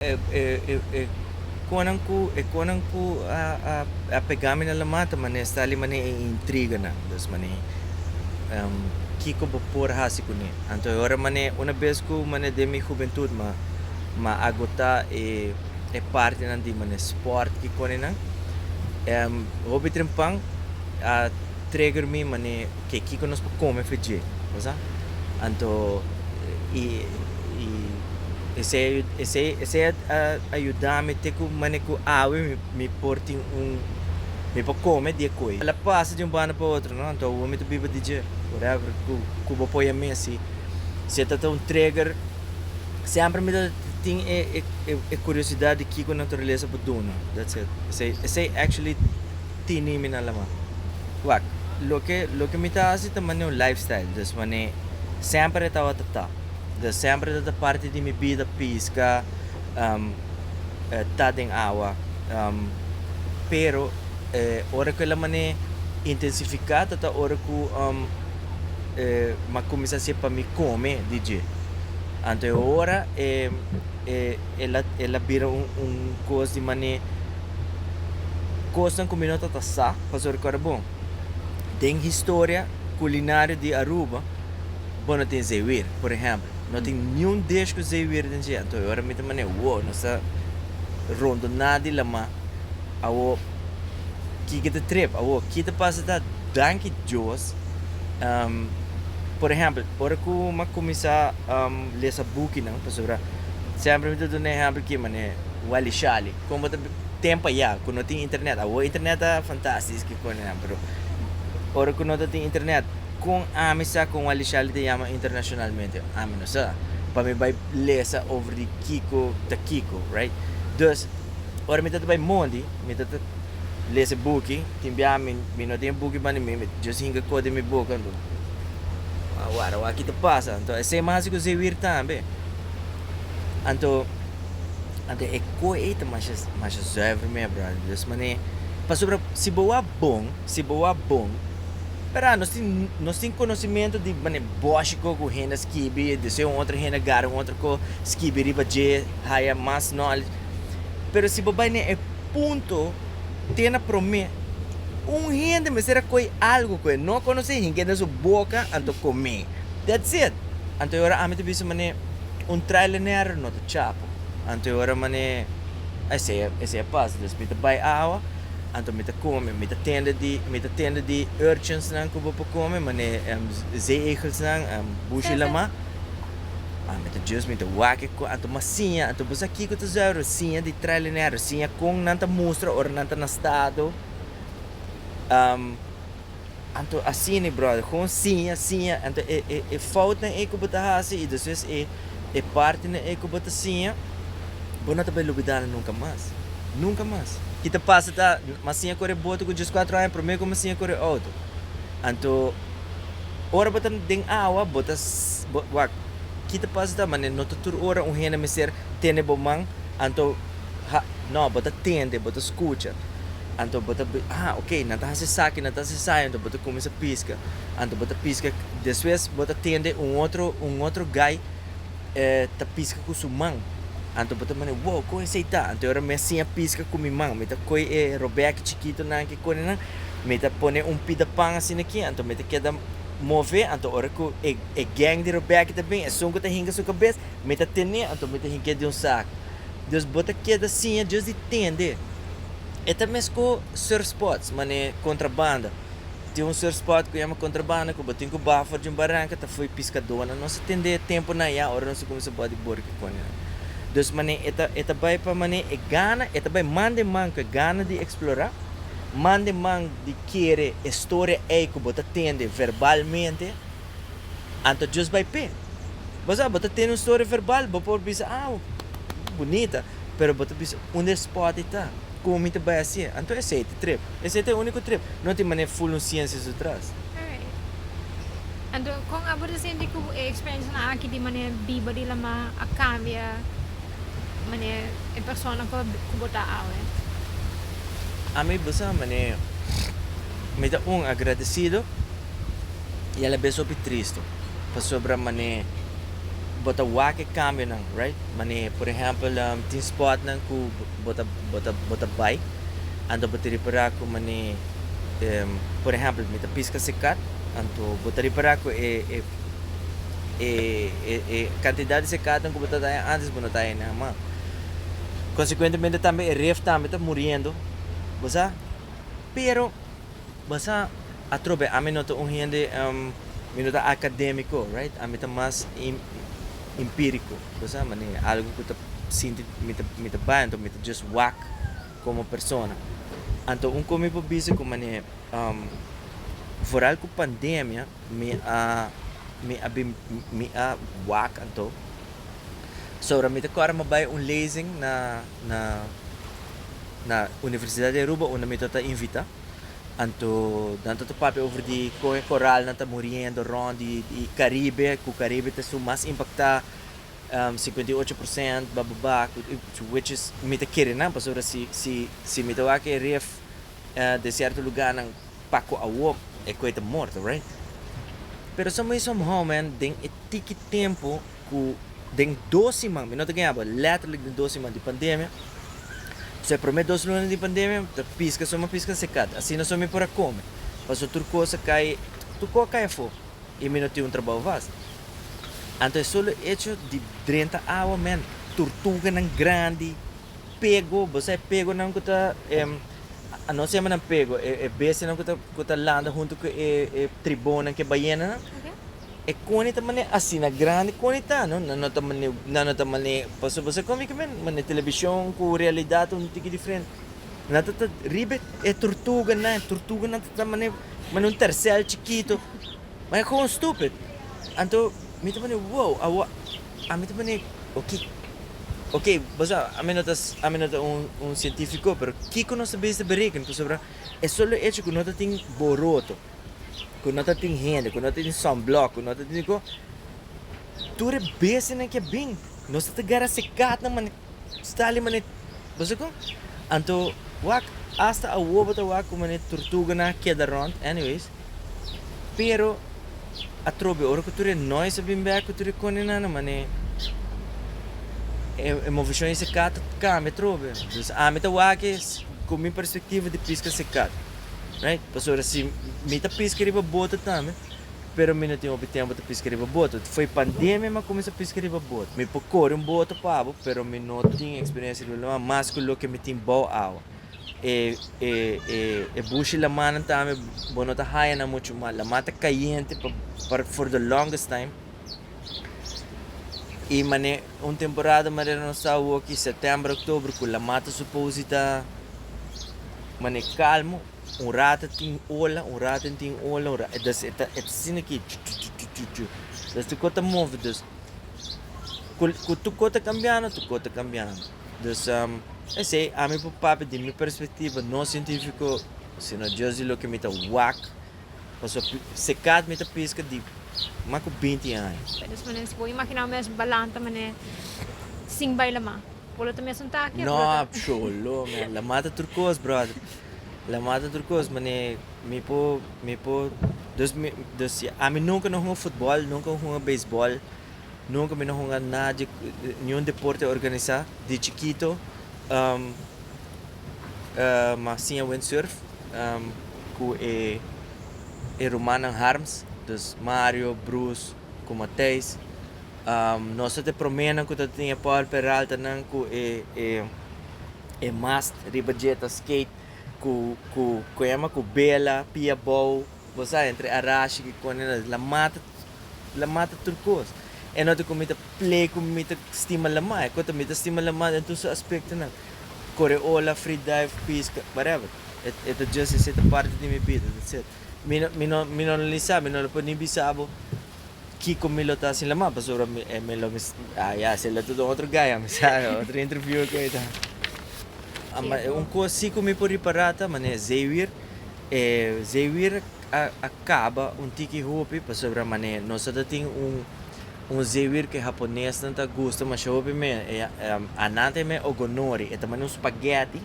E konan ku e konan ku a pegá mi na lo mata manera esta li manera e intriganan dus manera kiko bo por hasi kuné anto e ora manera una bes ku manera den mi hubentut ma ma agotá e partinan di manera sport kikonenan hopi trempan a trigger mi manera. ke kiko nos por kome fe dje, bo sa? Anto i i esei esei esei a a a yuda mi te ku mane ku awe mi mi por tin un mi por kome di e koi. El a pasa di un banda pa otro, no, anto awor mi ta biba di dje, whatever ku ku bo poi a mi asi. Si e ta ta un trigger, semper mi ta tin e e e e kuriosidad di kiko naturalesa por duna, that's it. Esei esei actually. Tini mi na lama. Wak, loke loke mi ta hasi ta manera un lifestyle, dus manera semper e tabata ta. Dus semper tabata parti di mi bida pisca, ta den awa, pero e ora cu el a manera intensifica tata ora cu e ma cuminsa si e pa mi come di dje. Anto e ora e El a el a bira un un kos di manera kosnan ku mi no ta ta sa paso rekorda bo den historia kulinario di Aruba bo no tin zeewir por ehempel no tin niun dish ku zeewir den dje anto e ora mi ta mane wow nos ta rondoná di lama awo kiko ta trip awo ki ta pasa ta danki Dios por ehempel ora ku mi a kuminsá. Lesa bukinan pasobra semper mi ta duna e ehempel ki manera Wally Shali kon bo ta tempo ayá ku no tin internet awo internet ta fantastis kikon ayá pero ora ku no ta tin internet kon ami sa kon Wally Shali ta yama internashonalmente ami no sa pa mi bai lesa over di kiko ta kiko right? Dus ora mi ta ta bai mondi mi ta ta les e buki, tin bia mi mi no tin e buki bani mi, mi just hinga kos den mi boka anto a wak a wak aki ta pasa, anto esei mas asi ku Zewir tambe, anto anto e kos ei ta masha masha zuiver mi e brother, di aos manera, pasobra si bo a bon, si bo a bon, verdad nos tin nos tin konosementu di manera boshi kos ku hende a skibi, desei un otro hende a gara un otro kos skibi riba dje, haya mas knowledge, pero si bo bai na e. Punto te na prome. Un hende mester a koe algo ku e no konosé hin ke den su boka anto komé. That's it. Anto e ora ami ta bisa manera un trailenero no ta chapo. Anto e ora manera esei esei a pasa. Des mi ta bai awa anto mi ta kome. Mi ta tende di mi ta tende di urchins nan ku bo por kome manera zeegelsnan, bushilamá. Ah, mi ta djus, mi ta wak-e ku anto, ma siña anto boso aki ku ta usá e rosiña di trailinero, siña kon nan ta mustra ora nan ta na stado. Am, anto asini bròder, kon siña, siña, anto e, e, e foutnan ei ku bo ta hasi i despues e, e partinan ei ku bo ta siña, bo no ta bai lubidá nan nunka mas, nunka mas. Ki ta pasa ta, m'a siña kore boto ku djis kuatro aña, promé ku m'a siña kore outo. Anto. Ora bo ta den awa bo ta bo wak ki ta pasa ta mane no ta tur ora un hende mester tende bo man anto ha no bo ta tende bo ta skucha anto bo ta bi a ok nan ta hasi esaki nan ta hasi esai anto bo ta kuminsa piska anto bo ta piska despues bo ta tende un otro un otro gai e ta piska ku su man anto bo ta mane wow kon esei ta anto ora mi a siña piska ku mi man mi ta koe e robeki chikitonan ki konenan Mi ta pone un pida pan asina aki, anto mi ta keda move, anto ora ku e e geng di Rebèke ta bin, esun ku ta hinka su kabes, mi ta ten'é, anto mi ta hinka e den un saku. Dus bo ta keda siña Dios di tende. E ta mescó surfspots, man'é kontrabanda. Tin un surfspot ku yama kontrabanda ku bo tin ku baha for di un baranka, ta foi piskadónan. Nos a tende tempunan ya, ora nos a kuminsá bòt di bor kikonenan. Dus man'é e ta e ta bai pa man'é e gana, e ta bai man den man ku e gana di eksplorá. Mande man di kere e storia ei ku bo ta tende verbalmente, anto djus bai p'e. Bo sa, bo ta tende un storia verbal, bo por bisa, Aw, bunita. Pero bo ta bisa, Unda e spòt ei ta? Komo mi ta bai hasié? Anto esei ta trip. Esei ta e úniko trip. No tin manera ful un siensia su tras. Alright. Anto, kon abo ta sinti ku e eksperensianan aki di manera biba di laman a kambia? Mane e persona pa ku bo ta awe. Ami bo sa mane mi ta un agradisido i alabes hopi triste pasobra mane bo ta wak e kambionan right mane por ehèmpel tin spòtnan ku bo ta bo ta bo ta bai anto bo ta repará ku mane por ehèmpel mi ta piska sikat anto bo ta repará ku e e. e e kantidat di sekatan ku bo ta daña antes bo no ta hende hama. Konsekuentemente tambe e ref tambe ta muriendo, bo sa. Pero bo sa atrobe ami no ta un hende mi no ta akademiko, right, ami ta mas impiriko, bo sa, manera algu ku ta sinti mi ta mi ta bai anto mi ta just wak komo persona. Anto un kon mi por bisa ku manera foral ku pandemia. Mi a mi a bin mi a wak anto so mi ta kòrda mi bai un lezing na na na universidat di Aruba unda mi tota invitá anto nan ta ta papia over di kon e koralnan ta muriendo rònt di di karibe ku karibe ta su mas impaktá sekuenta i ocho porsènt bababá which is mi ta kere nan pasobra si si si mi ta wak e ref de sierto lugánan. pa cu awor e coe ta morto right pero some way some how man den e tiki tempo cu den dos siman mi no ta guiaba letterlijk den dos siman di pandemia so e prome dos luna di pandemia mi ta pisca so mi pisca secat asina so mi por a come pasobra tur cos a cay tur cos a cay afo y mi no tin un trabao vast anto e solo hecho di drenta awa man turtuganan grandi pego bosa e pegonan cu ta Nos hemanan pego e bestianan cu ta landa hunto cu e tribonan, cu e bayenanan. E coni ta mane asi, na grandi coni ta, no? Nan no ta mane, nan no ta mane, pasobra bo sa con mi cu mi mane television cu realidad ta un tiki diferente. Nan ta ta riba e tortuganan, e tortuganan ta ta mane, mane un tercel chikito, mane co'o stupid. Anto mi ta mane, wow, awor. Ami ta pone, Oke, oke, bo sa, ami no ta, ami no ta un, un sientifiko, pero kiko nos ta bisa berekena? Pasobra e solo echo ku no ta tin boroto, ku no ta tin hende, ku no ta tin sònblòk, ku no ta tin diko, tur e bestianan ke a bin, nos ta ta garra se katnan, Stali mane bo sa ku? Anto wak asta awo bo ta wak ku mane turtuga na keda rond anyways pero atrobe ora ku tur e noise a bin bek ku tur e koninana mane e movishon ese kat ta kambia atrobe dus ami ta wak es ku mi perspektiva di piska se kat right pasobra si mi ta piska riba bota tambe. pero mi no tin hopi tempo ta piska riba boto. Foi pandemia m'a cuminsa piska riba boto. Mi por cori un boto pa bo, pero mi no tin experiencia riba loma mas cu loke mi tin bao awa. E e e e bushi lamanan tambe bo no ta haya nan mucho mas. Lama ta cayente pa pa for the longest time. Y mane un temporada manera nos ta awoki, septiember, october, cu lama ta supposi ta mane calmo. Un rata tin ola, un rata no tin ola, un rata, dus e ta e ta asina aki chuchuchuchuchu, dus tuko ta move, dus ku ku tuko ta kambiando, tuko ta kambiando, dus esei ami por papia di mi perspektiva no sientifiko sino dios di loke mi ta wak, pasobra pi sekat mi ta piska di mas ku binti aña. Ta dus manera si bo imaginá bo mes balanta manera sin bai Lamá, bo lo ta mes un taki of bo lo No ta, psholo, men Lamá ta tur kos brother. La mata tur cos mane mi por mi por dos mi dos si ami nunca no hunga futbol nunca no hunga beisbol nunca mi no hunga na di niun deporte organisa di chikito ma siña wind surf cu e e rumannan Harms dus Mario, Bruce cu Matheis. Nos ta te promenan ku ta tin e Paul Peralta nan ku e e e mast riba jeta skate ku ku ku a yama ku bela, pia bou, bo sa entre arashi ki kone nos la mata la mata tur kos. E nota ku mi ta play ku mi ta stima lama e kota mi ta stima lama den tur su aspektonan, kore ola, free dive, piska, whatever. E e ta just esei ta parti di mi bida, that's it. Mi no mi no mi no lo lisa mi no lo por ni bisa bo. Kiko mi lo ta sin la ma pasobra mi e mi lo mi ah ya se lo ta dun otro gaya mi sa otro interview ku e ta Ama e un kos si ku mi por ripara ta mane Xavier e Xavier a a kaba un tiki hopi pasobra mane nos a ta tin un un Xavier ku e haponesnan ta gusta masha hopi mi e a Anat e mi Ogonori e ta mane un spaghetti.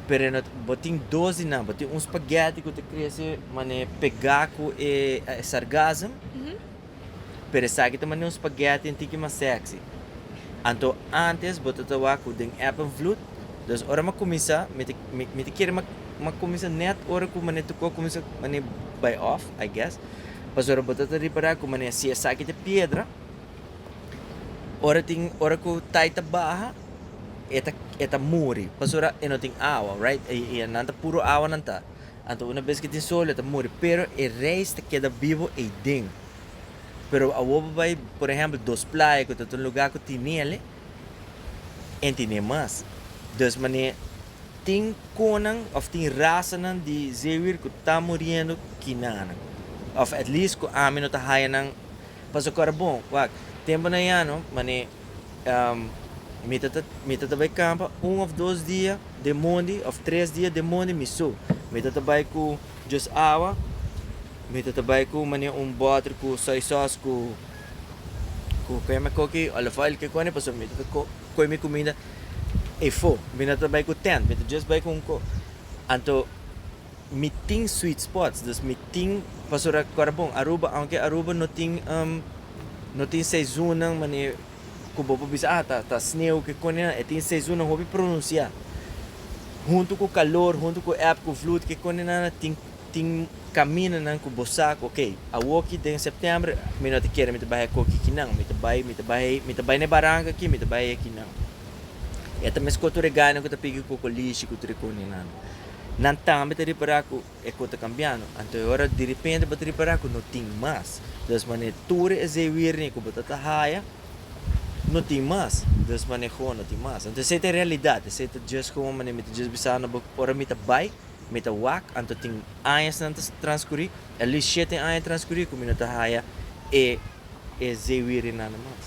pero no bo tin dos di nan bo tin un spaghetti cu ta crece mane pega cu e sargassum pero esaki ta mane un spaghetti un tiki mas sexy anto antes bo ta trabaha cu den effen vloed dus ora mi cuminsa mi ta mi ta kere mi a cuminsa net ora cu mane tucu a cuminsa mane bay off I guess pasobra ora bo ta ta repara cu mane si esaki ta piedra ora tin ora cu tai ta baha. e ta e ta muri pasobra e no tin awa right y y nan ta puro awa nan ta anto una bes ke tin sol e ta muri pero e reis ta keda bibo ey den pero awo bo bay por ehempel dos playa ku ta tin lugar ku tin nele en tine mas des manera tin konan of tin rasanan di zeewir ku ta muriendo kinanan of at least ku ami no ta haya nan paso kor a bon wak temponan ayano manera. Mi ta mi ta ta bai kampa un òf dos dia den mondi òf tres dia den mondi mi so. Mi ta ta bai ku just awa, mi ta ta bai ku mane un bòter ku soy sòs ku ku ke llama koki òlif oil kikoni pasobra mi ta ta ko koe mi kuminda efo. Mi no ta bai ku tènt mi ta just bai ku un ko anto. Mi tin sweet spots, dus mi tin pasobra kòrda bon Aruba aunke Aruba no tin no tin seisonnan manera ku bo por bisa ah ta sneu ke kone nan, e tin seisonnan hopi pronunsiá huntu ku kalor, huntu ku eb ku vloed ke kone nan tin tin kaminanan ku bo sa ku okay awoki den sèptèmber mi no ta kere mi ta bai a koki aki nan, mi ta bai mi ta bai mi ta bai na e baranka aki mi ta bai aki nan. E ta meskó tur e gana ku ta pigi kokolishi ku tur e kone nan. Nan tambe ta repará ku e kos ta kambiando. Anto e ora direpente bo ta repará ku no tin mas. Dus manera e tur esei wiernia ku bo ta ta haya, no tin mas. Dus manera e gono tin mas. Anto esei ta e realidat. Esei ta djes komo manera mi ta djes bisa nan bo ora mi ta bai, mi ta wak, anto tin añanan ta transkurí, a lies shete aña transkurí ku mi no ta haya e esei wiernianan mas.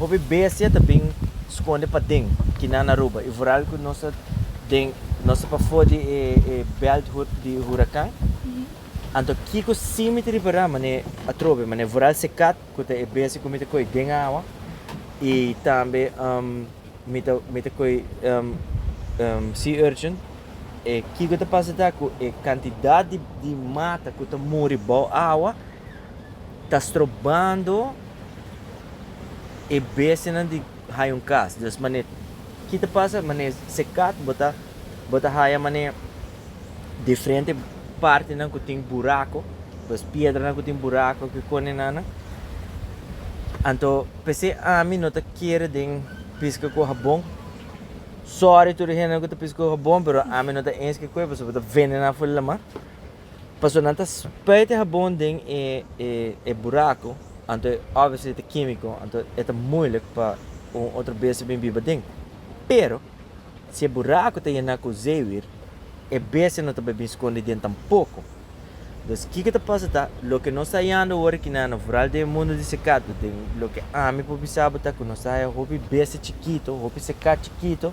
Hopi bestia ta bin skonde paden kinan Aruba y vooral cu nos ta den nos ta pafo di e e belt hood di huracan. Anto kico si mi ta ripara mane atrobe mane vooral secat cu ta e bestia cu mi ta coy den awa y tambe um mi ta mi ta coy um um sea urchin e kico ta pasa ta cu e cantidad di di mata cu ta muri bao awa. ta strobando e bestianan di haya un cas dus mane ki ta pasa mane se cat bo ta bo ta haya mane diferente partinan cu tin buraco pues piedranan cu tin buraco cu cone nana anto p'esey ami no ta kere den pisca cu habon sorry tur e hendenan cu ta pisca cu habon pero ami no ta eens cu e pasobra bo ta vendenan afuera laman. Pasobra nan ta spreidt e habon den e buraco, anto obviously ta kimico, anto e ta moeilijk pa un otro besti bin biba den. Pero, si e buraco ta yena cu zeewier, e bestia no ta bay bin scondi den tampoco. Dus, kiko ta pasa ta, loke nos ta hayando awor aki na no vooral den e mundo di secato, den loke ami por bisa bo ta cu nos ta haya hopi bestia chikito, hopi secat chikito,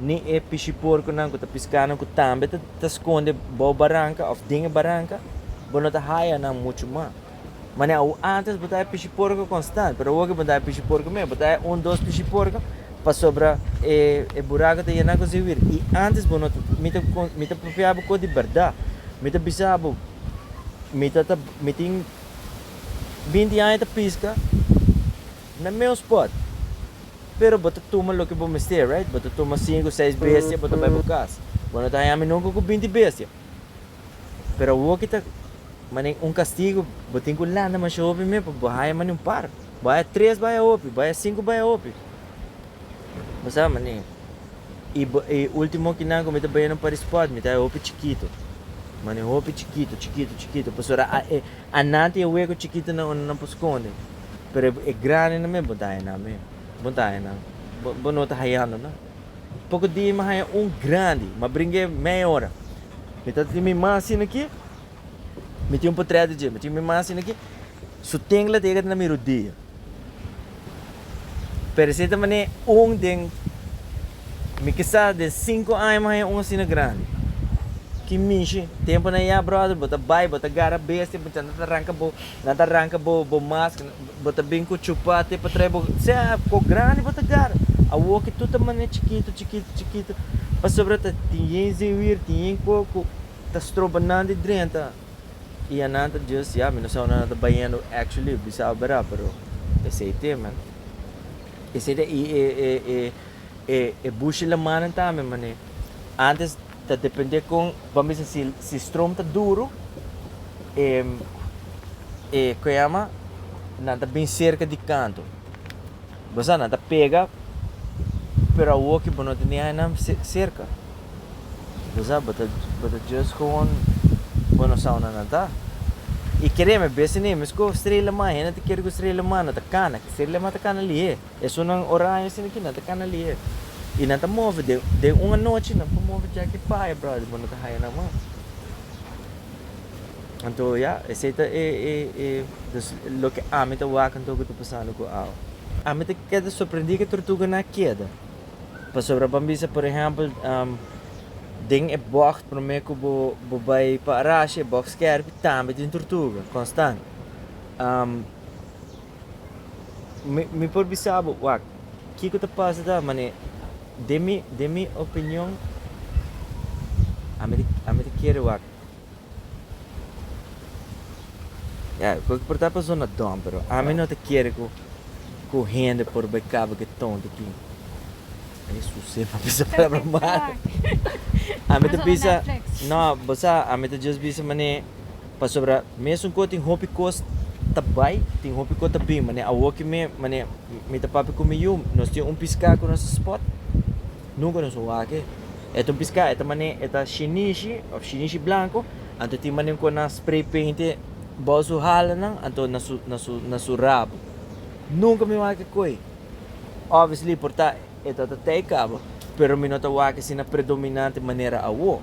ni e pishiporkunan ku ta piská nan ku tambe ta skonde bou baranka òf den e baranka, bo no ta haya nan muchu mas. Manera awor, ántes bo ta haya pishiporku konstant, pero awor ke bo no ta haya pishiporku mes, bo ta haya un, dos pishiporku pasobra e buraku ta yená ku ziwir. I ántes bo no ta, mi ta, mi ta porfiá bo kos di bèrdat. Mi ta bisa bo, mi ta, mi tin binti aña ta piska na meu spòt. Pero bo ta tuma loke bo mester, right? Bo ta tuma sinku, seis bestia, bo ta bai bo kas. Bo no ta haña mi nunka ku binti bestia. Pero awor ki ta manera un kastigu, bo tin ku lanta masha hopi men pa bo haña manera un par. Bo haña tres bai a hopi, bo haña sinku bai a hopi. Bo sa manera. I bo, i ultimo kinan ku mi ta bai na un pari sport, mi ta haña hopi chikitu. Manera hopi chikitu, chikitu, chikitu, pasobra a, e, ananti e weko chikitunan unda nan por skonde. pero e grandenan men bo ta haña nan men, bo ta haña nan, bo, bo no ta hañando nan. Poko dia mi haña un grandi, mi a bringa e meia ora. Mi ta tin mi ma asina aki, mi tin un potrèt dje, mi tin mi ma asina aki, su tengla ta yega ta na mi rodia. Pero esei ta manera un den, mi kisas den sinku aña mi haña un asina grandi. Ki mishi, temponan ya bròder, bo ta bai, bo ta gara bestia, bo ta ranka bo, Nan ta ranca bo bo maskera. Bo ta bin cu chupa te pa trae bo, sea cu grandi bo ta gara. Awo ki tur ta mane chikito, chikito, chikito. Pasobra ta tin yen zewier, tin yen co cu ta stroba nan di drenta. Y a nan ta just, ya, mi no sa unda nan ta bayendo. Actually, mi sa bera, pero esey te, man. Esey te, y e, e, e, e, e bushi lamanan tambe, mané. Antes. Ta depende con bo a mester si si stroom ta duro e e con a yama nan ta bin cerca di canto bo sa nan ta pega pero awo ki bo no tene ainan cerca bo sa bo ta bo ta just gewoon bo no sa aunda nan ta y kere mi bes tenemos con strela man hende ta kere cu strela man no ta cana strela man ta cana lihé. Esunnan orange sin aki nan ta cana lihe y nan ta move den den un anochi nan por move kia ki paya brother bo no ta haya nan mas anto ya esey ta e e e dus loke ami ta wak anto ku ta pasando ku awe. Ami ta keda sorprendi ke tortuga na keda pasobra bo a bisa por ehempel den e bocht prome ku bo bo bay pa Arashi e bocht skerpi tambe tin tortuga konstant Mi por bisa bo, wak, kiko ta pasa ta mane, den mi, den mi opinion, ami, ami ta kere wak. Ya, ku por ta persona dom, pero ami no ta kere ku, ku hende por bai kaba ke tonto ki, e suse, pa bisa palabra malo. Ami ta bisa, no, bo sa, ami ta just bisa mane, Pasobra mesun ko tin hopi kos ta bai, tin hopi ko ta bin. Manera awo ki mi, manera mi ta papia ku mi yu, nos tin un piská ku nos a spot. Nunka nos a wak-e. E ta un piská, e ta mane, e ta shinishi òf shinishi blanku. Anto tin manera ku nan spray paint-e bou su hala nan, anto na su, na su, na su rabu. Nunka mi wak-e ku e. Obviously por ta. E ta ta tei caba, pero mi no ta wak asina predominante manera awo.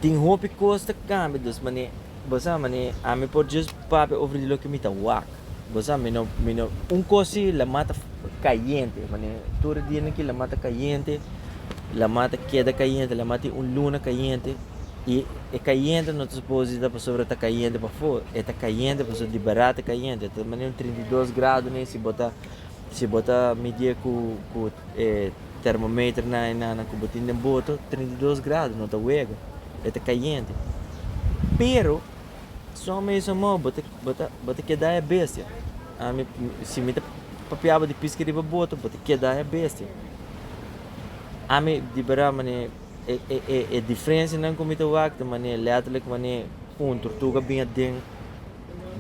Tin hopi cos ta cambia, dus mane, bo sa, mane ami por just papia over di loke mi ta wak. Bo sa, mi no, mi no, un cos si lamat ta cayente, mane tur e dianan aki lamat ta cayente, lamat ta keda cayente, lamat tin un luna cayente, y e cayente no ta suposo di ta pasobra ta cayente pafor, e ta cayente pasobra di barato ta cayente, ta mane un trinta i dos grado ne si bo ta. Si bo ta midié ku e termometer nan i nannan ku bo tin den boto, trinta i dos grado no ta wega, e ta kayente. Pero, son mesun mou bo ta keda e bestia. Ami, si mi ta papiaba di piski riba boto, bo ta keda e bestia. Ami di bera manera e diferensianan ku mi ta wak ta manera letterlijk manera un tortuga bin aden.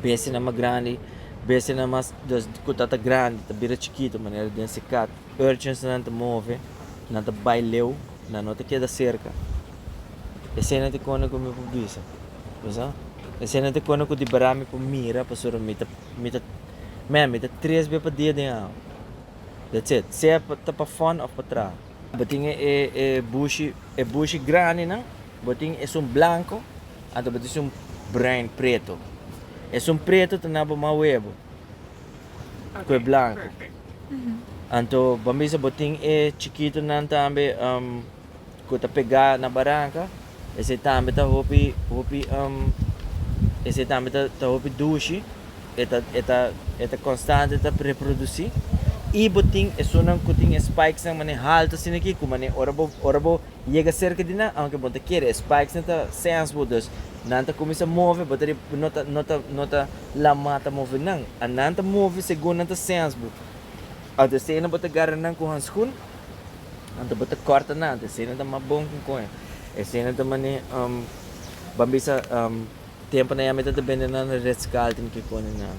Bestianan mas grandi, Bestianan mas ku ta ta grandi ta bira chikitu manera den si kat. Urchinsnan ta move, nan ta bai leu, nan no ta keda serka. Eseinan ta e kona ku mi por bisa. Bisa? Eseinan ta e kona ku di barat mi por mira pasobra mi ta mi ta mea mi ta tres be pa dia den awa. That's it. Sea ta pa fòn òf pa traha. Bo tin e e bushi e bushi grandinan Bo tin esun blanco, anto bo ta esun bruin, preto. Esun preto ta na bo mas webo cu e blanco. Anto bo bisa bo tin e chikitonan tambe cu ta pega na baranca, esey tambe ta hopi hopi esey tambe ta hopi dushi, e ta e ta e ta constante ta reproduci. Y bo tin esunnan cu tin e spikes nan mane halto asina aquí cu mane ora bo ora bo Yega serka di nan aunke bo ta kere e spikes nan ta sense bo dus nan ta cuminsa move bo ta di no ta no ta no ta la ma ta move nan a nan ta move segun nan ta sense bo aunke esey nan bo ta garra nan cu hanscun aunke bo ta corta nan aunke esey nan ta ma bon cu coño esey nan ta mane um ban bisa um tempo nan ya mester ta bende nan ritz carlton ki cona nan.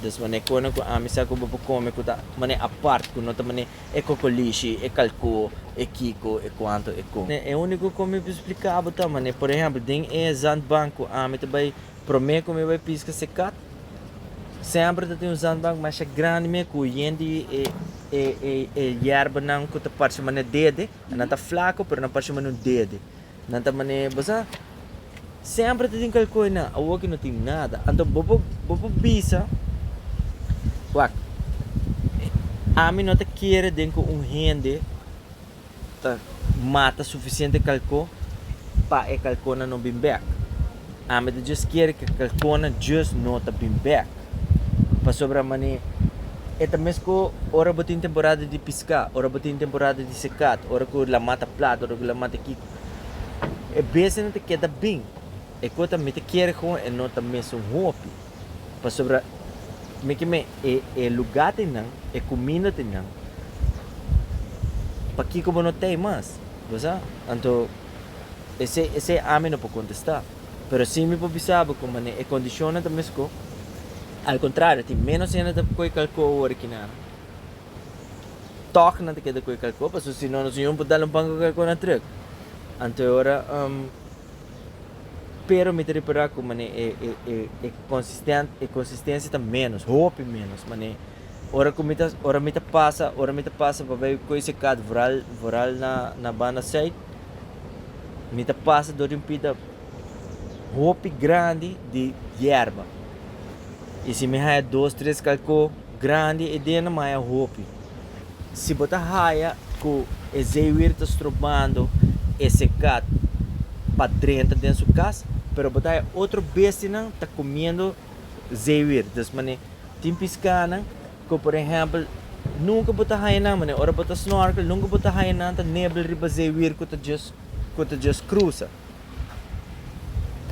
Despues nan e cona cu ami sa cu bo por come cu ta mane apart cu no ta mane E kokolishi, e kalkó, e kiko, e kuantu, e kon. E úniko ku mi por splika bo ta manera, por ehèmpel, den e zandbank ku ami ta bai, promé ku mi bai piska se kat, semper ta tin un zandbank masha grandi me ku yen di e yerbanan ku ta parse manera dede, nan ta flako pero nan parse manera un dede. Nan ta manera e bo sa. Semper ta tin kalkoe nan, awor ke no tin nada. Anto bo por, bo por bisa, Wak, ami no ta kere den ku un hende ta mata sufisiente kalko pa e kalkonan no bin bèk. Ami ta djis kere ke kalkona djis no ta bin bek. Pasobra man'e e ta mes ku ora bo tin temporada di piská, ora bo tin temporada di sekat, ora ku laman ta plat, ora ku laman ta kiko. E besenan ta keda bin. E kota mi ta kere ku e no ta mes un hopi. Pasobra mi ke mei e e lugá te nan, e kuminda te nan, pakiko bo no tei mas? Bo sa? Anto Esei, esei ami no por contesta. Pero si mi por bisa bo cu manera e condicionnan ta mesco, al contrario tin menos hende ta coe calco awor aki nan. Toch nan ta keda coe calco pasobra si no nos Señor no por dal un banco calco na truck. Anto e ora, um, pero mi ta repara cu manera e, e, e, e consisten, e consistencia ta menos, hopi menos, manera. Ora ku mi ta, ora mi ta pasa, ora mi ta pasa pa bai koe se kat vral, vral na, na banda sait, mi ta pasa dor di un pita hopi grandi di yerba. I si mi haya dos, tres kalkó grandi ei den, mi haya hopi. Si bo ta haya ku e zeewier ta strobando e se kat pa drenta den su kas, pero bo ta haya otro bestinan ta kumiendo. zeewir. Dus manera tin piskanan ku por ehèmpel nunka bo ta haña nan, manera ora bo ta snorkel nunka bo ta haña nan ta nebel riba zeewir ku ta djis ku ta djis krusa.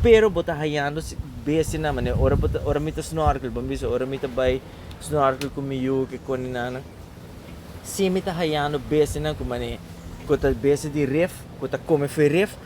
Pero bo ta hañando bestianan, manera ora bo ta ora mi ta snorkel bo bisa ora mi ta bai snorkel ku mi yu ke koninana si mi ta hañando bestianan ku manera ku ta bestia di rif ku ta kome for rif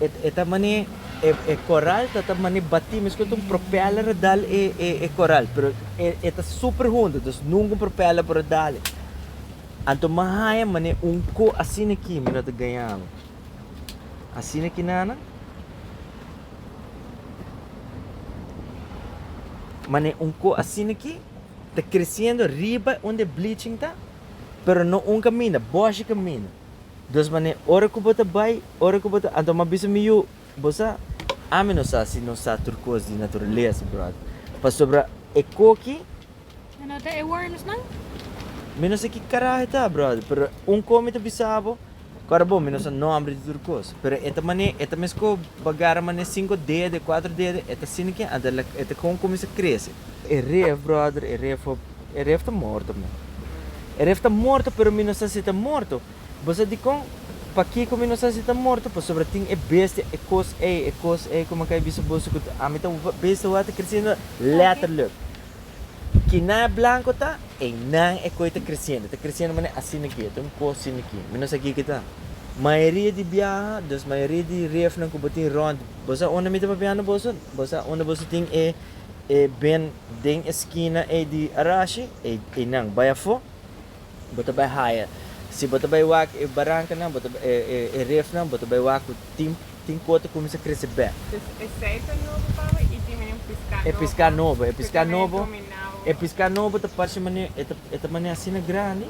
E ta mane e koral ta ta mane batí mes ku ta un propèler a dal e koral pero e ta super hundu dus nunka un propèler por a dale anto mi a haña mane un ko asina aki mi no ta gaña ami asina aki nana mane un ko asina aki ta kresiendo riba unda e bleaching ta pero no un kaminda bòshi kaminda. Dos manera, ora ku bo ta bai, ora ku bo ta. Anto m'a bisa mi yu, bo sa? Ami no sa si no sa tur kos di naturalesa, bròda. Pasobra e koki. Mi no ta e wormsnan? Mi no sa ki karajo e ta, bròda, pero un kos mi ta bisa bo, ku ora bo, mi no sa nòmber di tur kos, pero e ta mane, e ta mes ku bo agarra mane sinku dede, kuatro dede, e ta asina ke anto e ta kon kuminsá krese. E ref, bròder, e ref. E ref ta morto mi. E ref ta morto pero mi no sa si ta morto. Bo sa dikon? Pakiko mi no sa si ta morto? Pasobra tin e bestia, e kos ei, e kos ei ku mi a kai bisa boso ku ami ta bestia wak ta kresiendo letterlijk. Kinan e blanko ta, einan e koi ta kresiendo. Ta kresiendo manera asina ki, ta un kos asina ki. Mi no sa kiki ta. Mayoria di biaha, dus mayoria di refnan ku bo tin rònt, bo sa unda mi ta papiando boso? Bo sa unda boso tin e. E ben den e skina ei di Arashi, einan bai afó, bo ta bai haya. Si bo ta bai wak e barankanan, bo ta e refnan, bo ta bai wak ku tin tin kos ta kuminsá krese bèk. Pues e sèita nobo paba i tin menen piská nobo. E piská nobo, e piská nobo, e piská nobo ta parse mane e ta e ta mane asina grandi,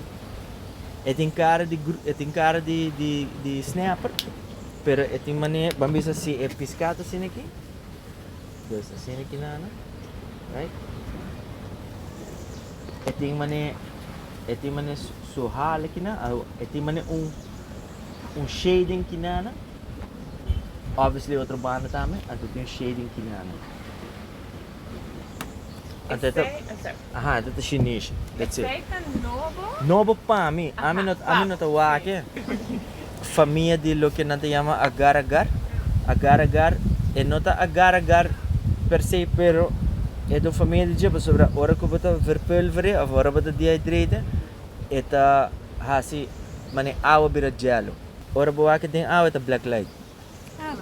e tin kara di gru e tin kara di di di snèper, pero e tin mane, ban bisa si e piská ta asina aki. Pues asina ki nan nan right e tin mane e tin mane su, su hale ki nan au e tin mane un un shading ki nan nan obviously otro banda tambe anto tin shading ki nan nan anto e ta Este, esa. Aha, ento ta shinishi. That's it. Esei ta nobo? Nobo pa mi. Ami no, ami no ta wak-e. Famia di loke nan ta yama agar agar. Agar agar, e no ta agar agar per se, pero e ta un famia di dje pasobra ora ku bo ta verpulvere of ora bo ta dehydrate, e ta hasi mane awa bira jèlu. Ora bo wak e den awa e ta blèk lait.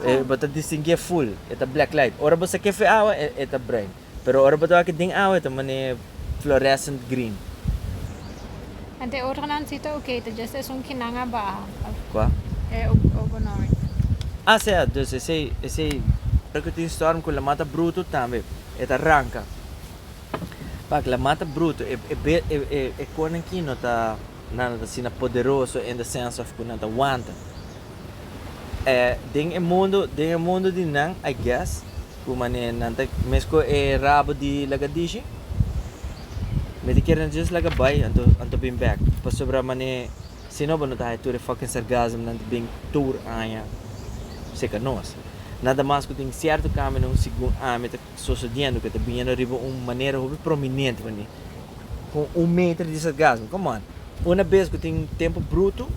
E bo ta distinguié ful, e ta blèk lait. Ora bo sak'e fu e awa, e ta bruin. Pero ora bo ta wak e ding awe ta man'é fluorescent green. Ante e otronan si ta oke, ta djesta esun ki nan a baha of. Kua? E ogonomic. Ah sea, dus esei esei. Ora ku tin storm ku la mata brutu tambe e ta ranka. Pak la mata brutu e e be e e e konan ki no ta. Nan no ta asina poderoso in the sense of cu nan ta wanta. E den e mundo, den e mundo di nan, I guess, cu mane nan ta mesco e rabo di lagadishi, mi ta kier nan just laga bay anto, anto bin back. Pasobra mane si no bo no ta haya tur e fucking sargasmnan ta bin tur aña seca nos. Nan ta mas cu tin cierto cambionan segun ami ta. sosediendo cu ta biniendo riba un manera hopi prominente veni con un meter di sargasmo. Come on! Una bes cu tin tempo bruto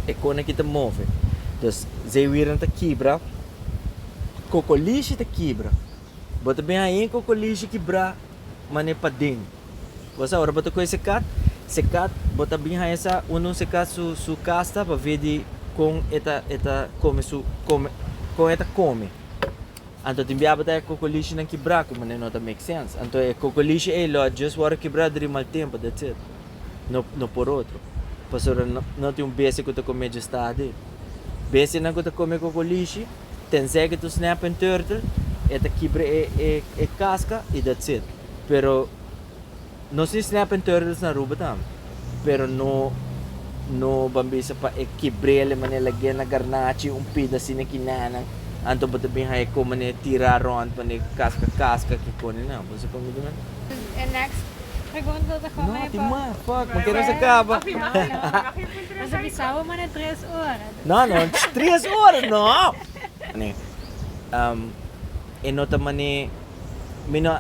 e con aki ta move. Dus zeewiernan ta kibra, kokolishi ta kibra. Bo ta bin haña e kokolishi kibra mane paden. Bo sa ora bo ta coge secat, secat bo ta bin haña sa unda un secat su su casta pa ve di con e ta e ta come su come con e ta come. Anto tin biabata e kokolieshinan kibrá ku manera no ta make sense. Anto e kokolieshi ei lo a just wòrdu kibrá during mal tempu, that's it. No no por otro. Pasobra no no tin un bestia ku ta kome dje stad ei. Bestianan ku ta kome kokolieshi, tensei ku ta un snapping turtle, e ta kibra e e e kaska i that's it. Pero. No sin snap en turtles na Aruba tam, pero no no ban bisa pa e kibrele mane lag'e na garnachi un pida sina ki nanan anto bo ta bin hae kon mane tira rond mane kaska kaska kikoni nan bo sa kon mi ta manda. E next pregunta ta kon mane pa. No tin mas fuck mi kere sa kaba. Bo ta bisa bo mane tres ora. No no tres ora no! Mane um e no ta mane. Mi no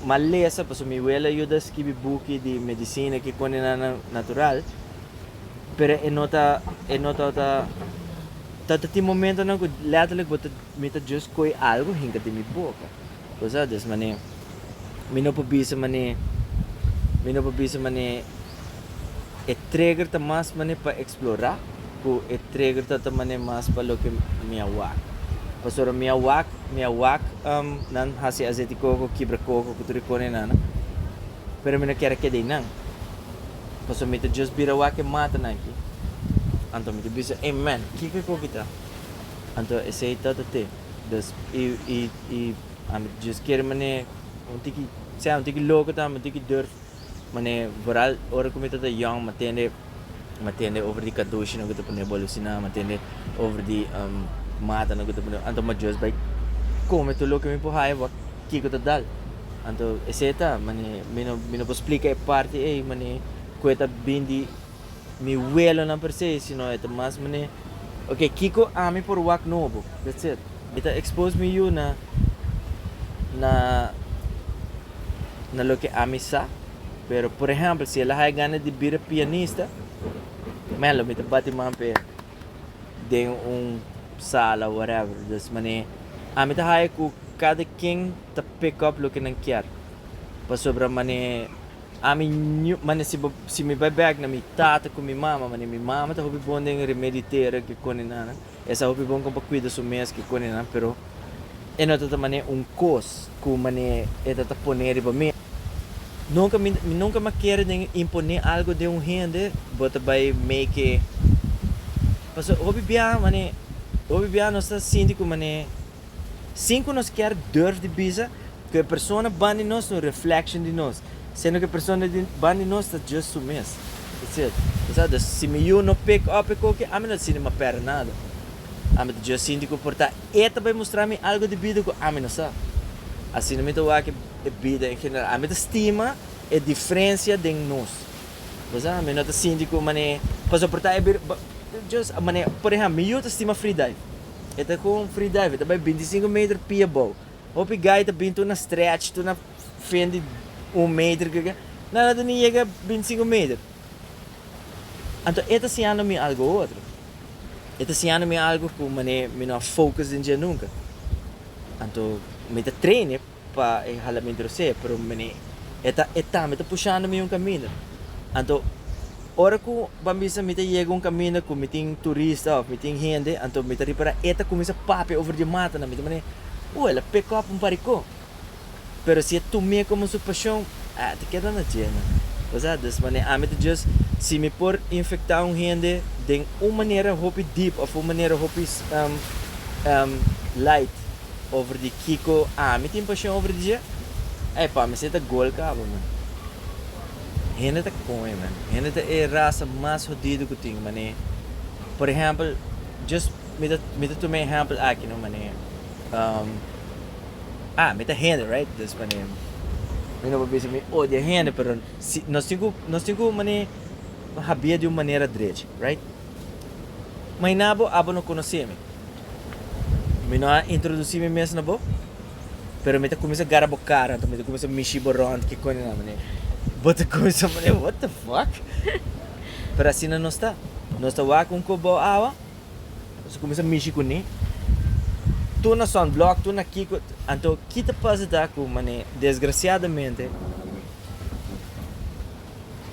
mal lesa, pasobra mi wele a yuda skibi buki di medisina ki pone na nan natural, pero e no ta, e no ta ta. Ta tin momentonan ku letterlik bo ta, mi ta just koe algu hinka den mi boka. Bo sa, des manera mi no por bisa manera, mi no por bisa manera E treger ta mas mane pa eksplorá ku e treger ta ta mane mas pa loke mi a wak. Paso ora mi a wak, mi a wak nan hasi aseti koko, kibra koko ku tur e kone nan. Pero mi no kier a keda einan. Paso mi ta just bira wak e matanan aki. Anto mi ta bisa, Ei men, kiko e koki ta? Anto esei ta ta te. Dus, i, i, i, ami ta just kere mane un tiki, sea un tiki loko ta, ami un tiki durf. Mane vooral ora ku mi ta ta yong ma tende ma tende over di kadushi no ke ta pone golosina ma tende over di mata no ke ta pone anto ma just bai kome tur loke mi por haya bo kiko ta dal anto ese ta mane mi no mi no por splika e parti ei mane ku e ta bin di mi welonan per se sino e ta mas mane ok kiko ami por wak nobo that's it mi ta expose mi yu na na. na loke ami sa, pero por ehempel si el a haya gana di bira pianista, melo mi ta bati man p'e den un sala whatever, dus manera ami ta haya cu cada ken ta pick up loke nan kier, pasobra manera ami ñu manera si bo si mi bai bek na mi tata cu mi mama manera mi mama ta hopi bon den remediatera cu e cone nan. E sa hopi bon kon pa kuida su mes ku konenan, pero e no ta ta man'é un kos ku man'é e ta ta pon'é riba mi. Nunka mi, mi nunka m'a kere den impon'é algu den un hende, bo ta bai make, pasobra hopi biaha man'é, hopi biaha nos ta sinti ku man'é. Sin cu nos kier durf di bisa cu e persona ban di nos ta un reflection di nos, siendo cu e persona ban di nos ta just su mes. That's it. Esaki, dus si mi yu no pick up e koki, ami no ta sinti ma perde nada. Ami ta just sinti cu por ta e ta bay mustra mi algo di bida cu ami no sa. Asina mi ta wak e bida en general. Ami ta stima e diferencia den nos. Esaki, mi no ta sinti cu mane, pasobra por ta e bida, just mane, por ehempel, mi yu ta stima free dive. E ta ku un freedive, e ta bai bintisinku meter pia abou. Hopi gai ta bin tur na stretch, tur na fin di un meter, ke ke. Nan a ta bin yega bintisinku meter. Anto e ta siñando mi algu otro. E ta siñando mi algu ku mané mi no a focus den dje nunka. Anto mi ta train'é. pa e hala mi dros'é, pero mene e ta e tambe ta pushando mi un kaminda. Anto ora ku ban bisa mi ta yega un kaminda ku mi tin turista òf mi tin hende, anto mi ta ripará e ta kuminsá papia over di matanan, mi ta manera, oh el a peka òf un parikó. Pero si e tum'é komo su pashon, ah e ta keda na dje nan. Kusá? Dus mane ami ta djust si mi por infektá un hende den un manera hopi deep òf un manera hopi light, over di kiko ami tin pasion over dje, ey pa mi se ta gol cabo man. Hende ta coño man, hende ta e raza mas hodido cu tin mané, por ehempel just mi ta mi ta tuma e ehempel aki no mané, um, ah mi ta hende right, dus mané mi no por bisa mi odia hende pero si nos tin cu nos tin cu mané habia di un manera drech right. Maina bo abo no conoce mi. Mi no a introduci mi mes na bo, pero mi ta cuminsa gara bo cara anto mi ta cuminsa mishi bo rond kiconi nan mane. Bo ta cuminsa mane, what the fuck? Pero asina nos ta. Nos ta wak un cop bo awa, nos ta cuminsa mishi cu ni. Tur na sunblock, tur na kico, anto ki ta pasa ta cu mane desgraciadamente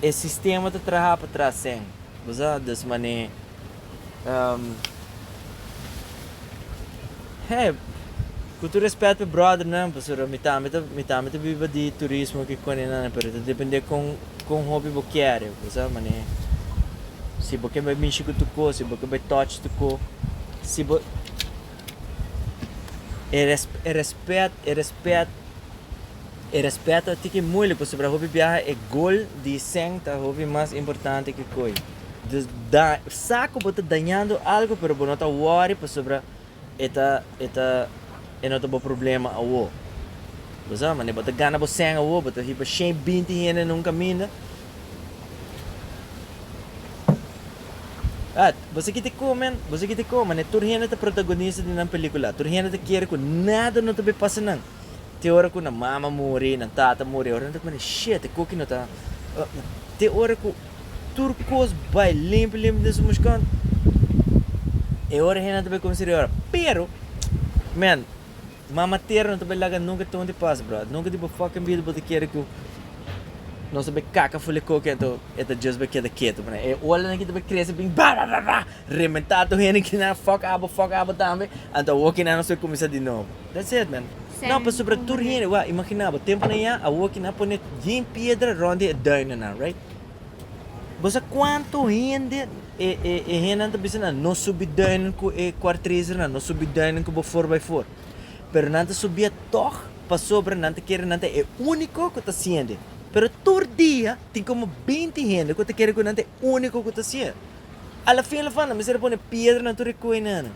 e sistema ta traha patras sen. Nos a dus man'é hé ku tur respet pe brother nan pasobra mi tambe ta mi tambe ta biba di turismo ki kone nan pero ta depende kon kon hopi bo kere bo sa man'é si bo ke bai mishi ku tu ko si bo ke bai touch tu ko si bo e respet e respet E respeto ti ki muele pasobra hopi biaha e gol di Seng ta hopi mas importante ki koe. Dus da sa ku bo ta dañando algu pero bo no ta wòri pasobra e ta e ta e no ta bo problema awo. Bo sa manera bo ta gana bo Seng awo bo ta hiba shei binti hende na un kaminda. At bo sa kiti kon men bo sa kiti kon manera tur hende ta protagonista di nan pelikula tur hende ta kere ku nada no ta be pasa nan. te ora ku nan mama muri, nan tata muri, ora nan ta kumina shit, e koki no ta, te ora ku tur kos bai limpi limpi den su mushkon, e ora hende nan ta bai kuminsá di ora. Pero, man, Mama Tera no ta bai laga nunka ton di pas, bròda, nunka di bo fucking bida bo ta kere ku nos ta bai kaka ful e koki anto e ta just bai keda ketu, manan e ola nan ki ta bai krese bin bábábábá, rebentá tur hende ki na fuck abo, fuck abo tambe, anto awokinan nos bai kuminsá di nobo. That's it man. No pa super tur hende wou a imaginá bo tempunan ya awor ki nan a pone djin piedra rond di e duinennan right. Bo sa kuantu hende e e e hendenan ta bisa nan no subi duinen ku e kuartresernan no subi duinen ku bo four by four pero nan ta subia tog pasobra nan ta kere nan ta e úniko ku ta siende pero tur dia tin komo binti hende ku ta kere ku nan ta e úniko ku ta siende a la fin a la funda mester a pone piedranan tur di koinannan.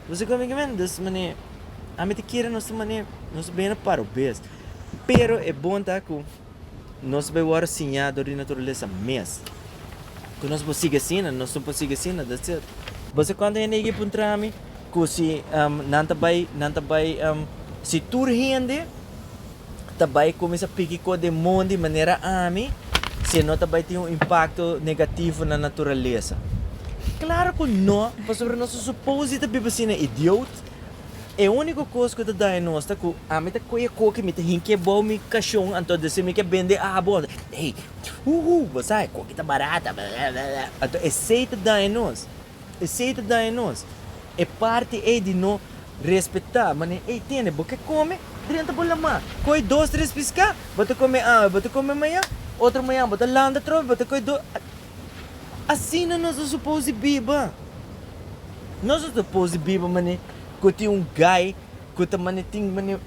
Bo si kominke men dos man'é, ami ta kere nos ta man'é, nos ta bena para un bes. Pero e bon ta ku nos bai wòrdu siñá dor di naturalesa mes. Ku nos por sigui asina, nos no por sigui asina, that's it. Bo sa kuantu hende a yega puntrami ku si nan ta bai, nan ta bai, si tur hende. ta bai cuminsa piki co den mon di manera ami si e no ta bai tin un impacto negativo na naturalesa? Claro cu no, pasobra nos ta suppose di ta biba asina idiot. E unico cos cu ta daña nos ta cu ami ta coy e coke y mi ta hinca ebao mi cashon anto deci mi ke bende abo anto ey, huhu, bo sa, e coke ta barato, anto esey ta daña nos. Esei ta daña nos. E parti ei di no respetá manera ei tende. Bo ke kome, drenta bo lamá. Koi dos tres piská, bo ta kome awe, bo ta kome mañan, otro mañan bo ta lanta atrobe, bo ta koi dos. Asina nos ta supos di biba. Nos no ta supos di biba manera ku tin un gai ku ta manera tin manera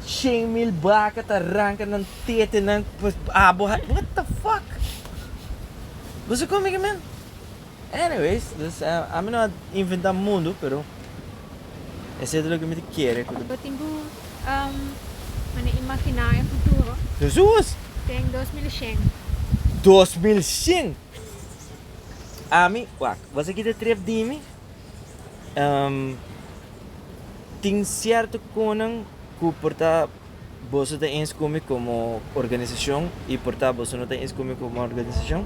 shen mil baka ta ranka nan tetenan pa abo. What the fuck! Bo sa kome ke men? Anyways, dus ami no a inventa mundu, pero esei ta loke mi ta kere ku ta. Bo tin ku mane imaginá e futuro? Hesus! Den dos mil i shen. Dos mil shen! Ami, wak, wak esaki ta tref di mi. Tin sierto konan ku por ta. Boso ta ins ku mi komo organisashon i por ta boso no ta ins ku mi komo organisashon,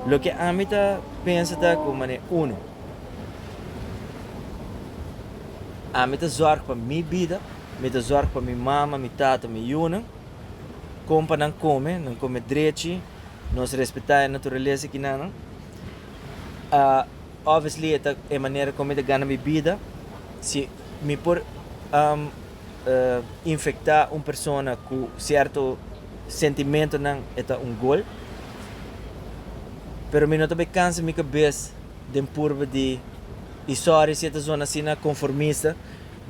loke ami ta pensa ta ku manera uno, ami ta zòrg pa mi bida, mi ta zòrg pa mi mama, mi tata, mi yunan, kon pa nan kome, nan kome drechi, nos respetá e naturalesa ki na nan. Obviously e ta e manera kon mi ta gana mi bida, si mi por. infecta un persona cu cierto sentimentonan e ta un gol. Pero mi no ta bay cansa mi cabez den purba di y sorry si e ta zona asina conformista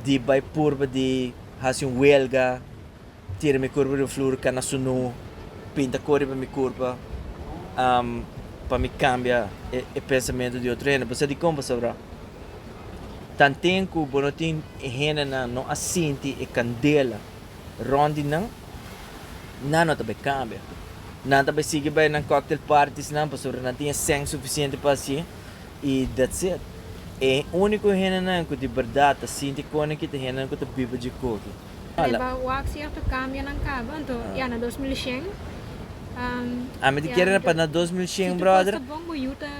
di bay purba di haci un huelga, tira mi curpa riba flur cana sunu, pinta cor riba mi curpa pa mi cambia e pensamento di otro hende. Bo sa dicon bo sabrá. Tanten ku bo no tin e hendenan no a sinti e kandela rònt di nan, nan no ta bai kambia. Nan ta bai sigui bai nan cocktail parties-nan pasobra nan tin e sèn sufisiente pa hasié i dats it. E úniko hendenan ku di bèrdat ta sinti kònde ki ta hendenan ku ta biba dje koki. Riba wak sierto kambionan kaba, anto ya na dos mil shen. Ami ta kere pa na dos mil shen, bròder. Si tur kos ta bon, bo yu ta,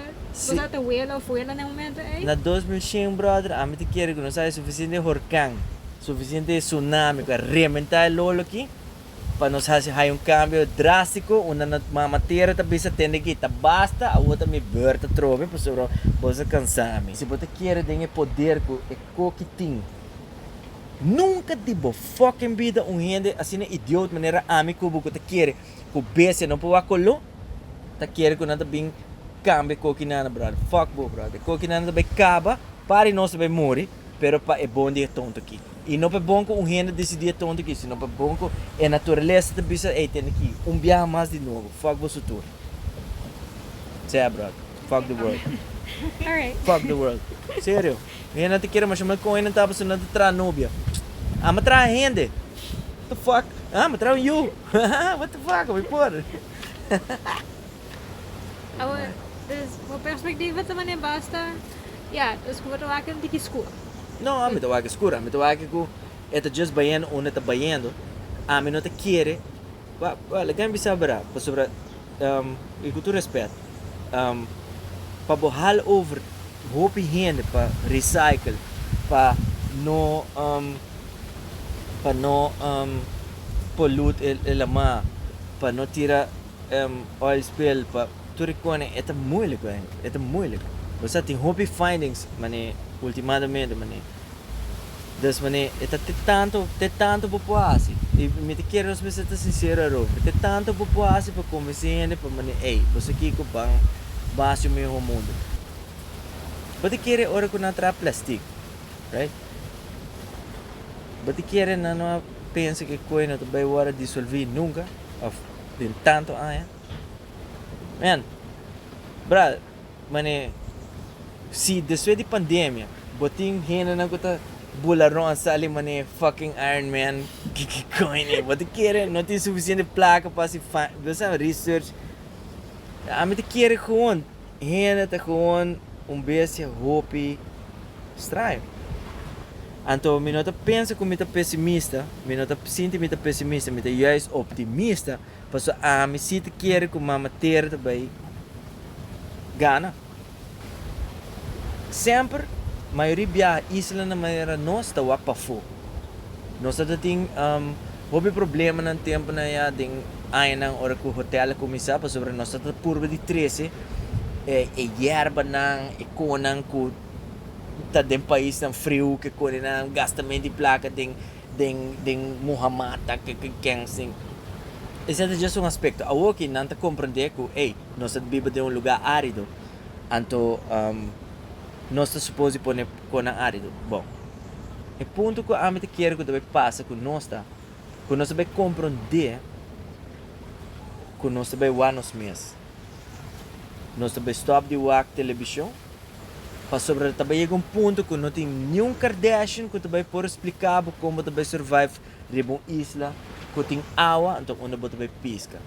bo ta ta wela òf wela na e momento ei? Na dos mil shen, bròder, ami ta kere ku nos haya sufisiente horkan, sufisiente sunami ku a rementá e lolo aki pa nos hasi haya un kambio drástiko unda no Mama Tera ta bisa tende ki ta basta, awor ta mi bùrt atrobe, pasobra bo sa kansá mi. Si bo ta kere den e poder ku e Koki tin. Nunca di bo fucking bida un hende asina idiot manera ami cu bo cu ta kere cu bestia no por wak colo ta kere cu nan ta bin cambia cokinana brother fuck bo brother cokinana ta bay caba pa di nos ta bay muri pero pa e bon di e tonto aki y no pa e bon cu un hende decidi e tonto aki sino pa e bon cu e naturalesa ta bisa ey tende ki un biaha mas di nuovo fuck bo su tur sea brother fuck the world fuck the world serio. Mi a nota kere masha mas con hende ta habla asina ta traha nobia. Amo a traha hende. What the fuck? Amo a traha un yu. What the fuck? Amo a por. Awor, dus bo perspectiva ta mane basta, ya, dus cu bo ta wak un tiki scur. No, ami ta wak scur. Ami ta wak cu e ta just bayendo unda e ta bayendo. Ami no ta kere Well, e can bisa bra, pasobra y cu tur respet, pa bo hal over hopi hende pa recycle, pa no pa no pollute e e la mar, pa no tira oil spill, pa tur e cona e ta moeilijk, e ta moeilijk. Bo sa tin hopi findings mane ultimadamente mane Des manera, e ta te tantu, te tantu bo por hasi. I mi ta kere nos mester ta sinsero around, te tantu bo por hasi pa konvensí hende pa manera, ey, bo sa kiko ban ban hasi un mihó mundu. Bo ta kere ora ku nan a traha plastik, right? Bo ta kere nan no a pensa ku e koe no ta bai wòrdu disolví nunka òf den tantu aña? Miren, brada, Mane, si despues di pandemia bo tin hendenan cu ta bula rond sali mane fucking Iron Man, kikicoño bo ta kere? No tin suficiente placa pa haci fan, bo sa research? Ami ta kere gewoon hende ta gewoon un bestia hopi straño. Anto mi no ta pensa cu mi ta pesimista, mi no ta sinti mi ta pesimista, mi ta juist optimista. Paso ami si ta kere ku Mama Tera ta bai gana. Semper, mayoria biaha islanan manera nos ta wak pafó. Nos a ta tin hopi problemanan tempunan ya den añanan ora ku hotel a kuminsá pasobra nos a ta purba di trese e yerbanan, e konan ku ta den paisnan friu, ke konenan gasta mente i plaka den. Den den Muhammad ta ke ke kens den. Esei ta just un aspekto. Awor ki nan ta komprendé ku ey, nos ta biba den un lugá árido, anto nos ta supos di pone konan árido. Bon, e punto ku ami ta kere ku ta bai pasa ku nos ta ku nos ta bai komprendé ku nos ta bai wak nos mes. Nos ta bai stòp di wak telebishon. Pasobra ta bai yega un punto ku no tin niun Kardashian ku ta bai por splika bo kon bo ta bai survive riba un isla ku tin awa anto unda bo ta bai piska.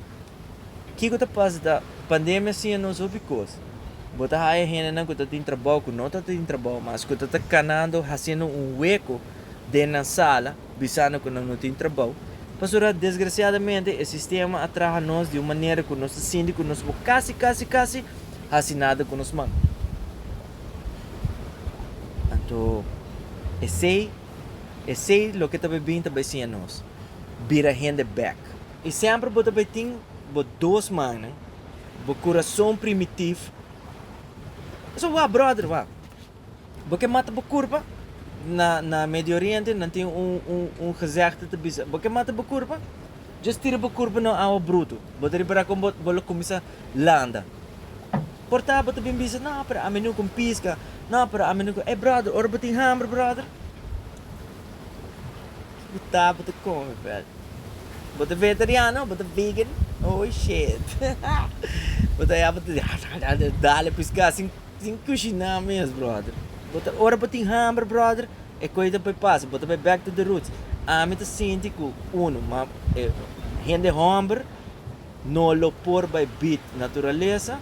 Kiko ta pasa ta, pandemia a siña nos hopi kos. Bo ta haya hendenan ku ta tin trabou, ku no ta tin trabou mas, ku ta ta kanando hasiendo un weko den nan sala, Bisando cu nan no tin trabao. Pasobra desgraciadamente e sistema a traha nos di un manera cu nos ta sinti cu nos por casi, casi, casi haci nada cu nos man. Anto esey, esey loke ta bay bin ta bay siña nos, bira hende bek. Y semper bo ta bay tin bo dos mannan, bo curason primitif, so wak brother wak. Bo ke mata bo kurpa? Na na Medio Oriente nan tin un un un gezegde ta bisa, Bo ke mata bo kurpa? Just tira bo kurpa na un awa brutu, bo ta repará kon bo bo lo kuminsá landa. Por ta bo ta bin bisa, No, pero ami no kon piska, no, pero ami no kon. Ey bròder, ora bo tin hamber bròder, bo ta bo ta kome vèt. Bo ta vegetariano, bo ta vegan, oh shit, bo ta ya bo ta dale piská sin Sin kushiná mes brother. Bo ta ora bo tin hamber brother e kos ta bai pasa bo ta bai back to the roots ami ta sinti ku uno ma e hende homber no lo por bai beat naturalesa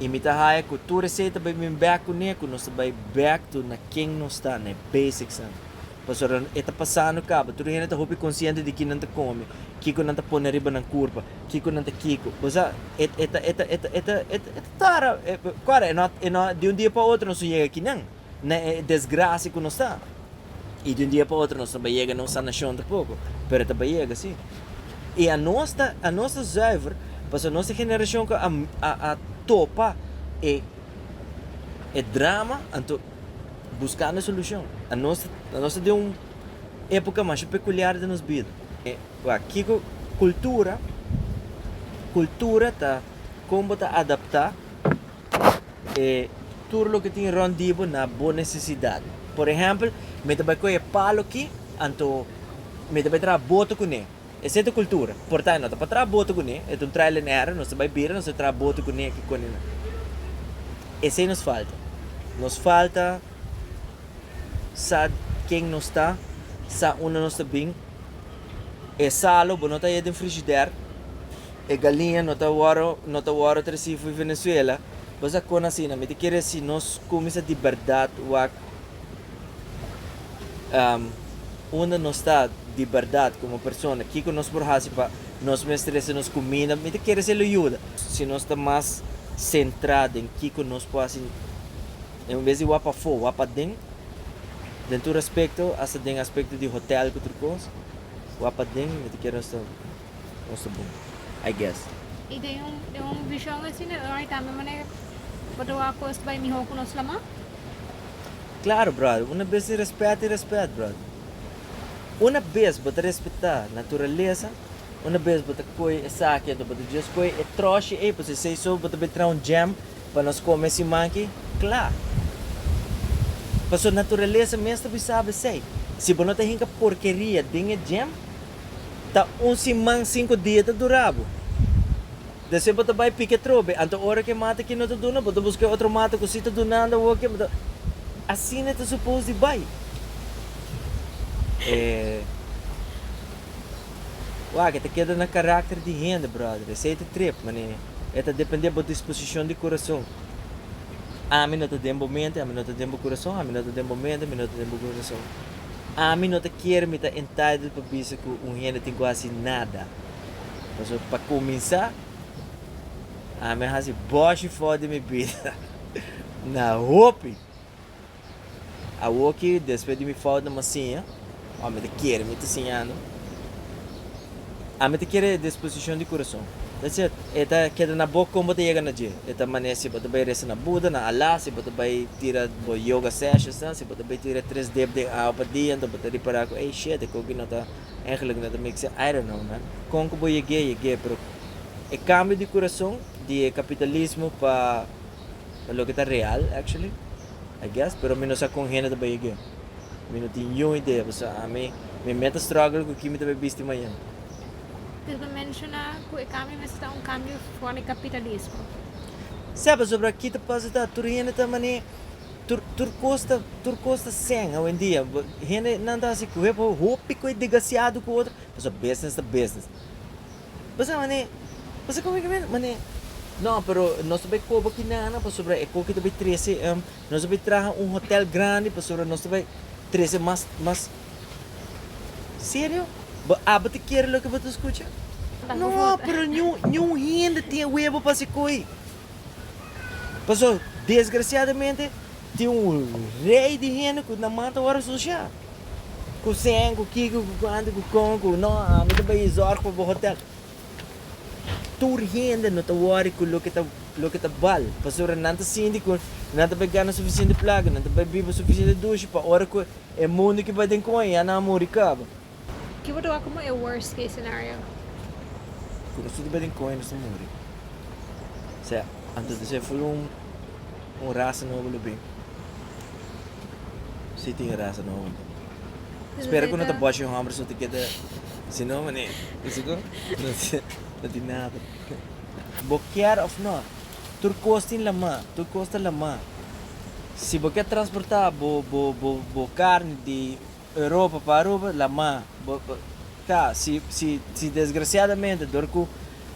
y mi ta haya ku tur esei ta bai bin back kuné ku nos ta bai back to na ken nos ta na e basics nan pasobra e ta pasando kaba tur hende ta hopi konsiente di ki nan ta komi kiko nan ta pone riba nan kurpa kiko nan ta kiko bo sa e ta e ta e ta e ta. Tara, kor e not, e not, di un dia pa otro nos no yega aki nan, na e desgrasi ku nos ta, i di un dia pa otro nos ta bai yega na un sanashon tampoco, pero e ta bai yega si. I anos ta, anos ta zuiver, pasobra nos e generashon ku a, a, a topa e, e drama, anto buskando e solushon. Anos, anos ta den un epoka masha pekuliar den nos bida. Kiko kultura, kultura ta. kon bo ta adaptá e tur loke tin rònt di bo na bo nesesidat. Por ehèmpel, mi ta bai kohe e palo ki, anto mi ta bai traha boto kuné. Esei ta kultura. Portá e no ta pa traha boto kuné, e ta un trial and error, nos ta bai bira, nos ta traha boto kuné ki kone nan. Esei nos falta. Nos falta sa ken nos ta, sa unda nos ta bin. e salo bo no ta haya den frishider, e galiña no ta wòrdu no ta wòrdu trasí fu Venezuela, bo sa kon asina mi ta kere disi nos kuminsa di bèrdat wak unda nos ta di bèrdat komo persona kiko nos por hasi pa nos mes trese nos kuminda mi ta kere disi lo yuda si nos ta mas sentrá den kiko nos por hasi En bes di wak pafó, wak paden. Den tur aspekto, asta den aspekto di hotèl ku tur kos, wak paden mi ta kere nos ta nos ta bon. I guess. I den un den un vishon asina lo hay tambe manera bo ta wak kos bai mihó ku nos lamá? Klaro, bròder. Una bes tin rèspèt tin rèspèt, bròder. Una bes bo ta respetá naturalesa, una bes bo ta koe esaki, anto bo ta djis koe e tròshi ei, pasobra si esei so bo ta bin traha un jam. Pa nos come siman aki? Cla! Pasobra naturalesa mes ta bisaba esey. Si bo no ta hinca porkeria den e djem, ta un siman cinco dia ta dura bo. Despues bo ta bay pica e trobe, anto ora cu e mata aki no ta duna, bo ta busca e otro mata cu si ta dunando awoke, bo ta. Asina ta suppose di bay. E. Wak, e ta keda na karakter di hende, bròder. Esei ta trip, man'é e ta dependé bo disposishon di kurason. Ami no ta den bo mente, ami no ta den bo kurason, ami no ta den bo mente, mi no ta den bo kurason. Ami no ta kere mi ta entitled pa bisa ku un hende tin ku hasi nada. Pasobra pa kuminsá, ami a hasi bòshi for di mi bida na hopi. Awoki despues di mi fout na Masiña, ora mi ta kere mi ta siñando, ami ta kere e disposishon di kurason. That's it. E ta keda na bo kon bo ta yega na dje. E ta manera si bo ta bai resa na Buda, na Allah, si bo ta bai tira bo yoga sessions nan, si bo ta bai tira tres dip den awa pa dia, anto bo ta ripara ku ey, shit, e koki no ta, engeluk no ta mikse, I don't know man. Kon ku bo yeg'é, yeg'é, pero e kambio di kurason di e kapitalismo pa. ta loke ta real actually I guess pero mi no sa kon hende ta bai e game mi no tin niun idea pasobra ami mi mes ta struggle ku ki mi ta bai bisti mañana. Pero ta menshona ku e kambio mester ta un kambio for di kapitalismo. Sa pasobra ki ta pasa ta tur hende ta mane tur tur kos ta tur kos ta sèn awendia hende nan ta hasi ku hopi ku e degasiado ku otro pasobra business ta business. Bo sa manera, bo sa koba ki mera manera. No, pero nos ta bai koba ki nana pasobra e koki ta bai trese, nos ta bai traha un hotel grandi pasobra nos ta bai trese mas, mas. Serio? Bo abo ta kere loke bo ta skucha? No, pero ni un, ni un hende tin e webo pa hasi koe. Paso, desgraciadamente tin un rei di hende ku nan manta ora sucia. Kusen, ku kiko, ku kuantu, ku kon, ku no, ami ta bai zòrg pa bo hotèl. Tur hende no ta wòri ku loke ta loke ta bal, pasobra nan ta sinti ku nan ta bai gana sufisiente plaka, nan ta bai biba sufisiente dushi pa ora ku e mundu ku bai den kon e ya nan a muri kaba. Ke bo ta wak komo e worst case scenario? Ku noso ta bai den kon e nos ta muri. Sea, anto di ser fulun. Un rasa nobo lo bin. Si tin e rasa nobo bo. Spera cu no ta boshi homber su ta keda si no mane bisa cu no tin nada. Bo kier of no tur cos tin lama, tur cos ta lama. Si bo kier transporta bo bo bo carne di. Europa pa Aruba la ma bo ta si si si desgraciadamente dor cu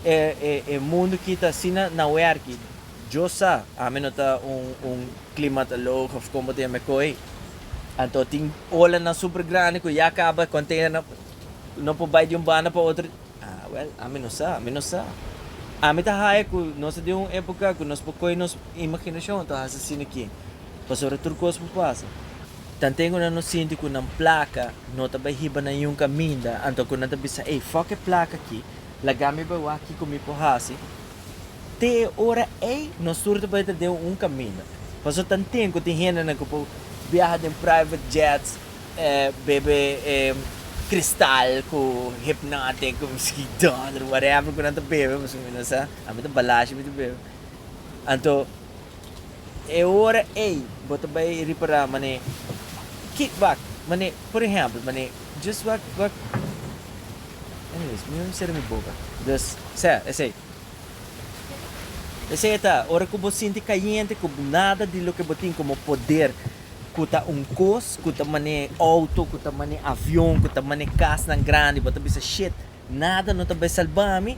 e e e mundo kita asina na werki yo sa ami no ta un un climatologo of con bo ta yama e coy anto tin olanan super grandi cu ya caba containernan no por bay di un banda pa otro ah well ami no sa ami no sa ami ta haya cu nos ta den un epoca cu nos por coy nos imaginacion anto hasi asina ki pasobra tur cos por pasa. Tanten ku nan no sinti ku nan plaka no ta bai hiba na niun kaminda, anto ku nan ta bisa, Ey, fòk e plaka aki, laga mi bai wak kiko mi por hasi. Te e ora ei, nos tur ta bai ta den un kaminda. Pasobra tanten ku tin hendenan ku por biaha den private jets, bebe e kristal ku Hpnotiq ku miski dòler, whatever ku nan ta bebe, pasobra mi no sa, ami ta balashi mi ta bebe. Anto E ora ei bo ta bai ripará manera kick back, manera por ehempel manera djis wak wak anyways mi no sera mi boka dus sea esei. Esei ta ora ku bo sinti kayente ku nada di loke bo tin komo poder ku ta un kos ku ta manera outo ku ta manera avion ku ta manera kasnan grandi bo ta bisa shit. Nada no ta bai salba mi.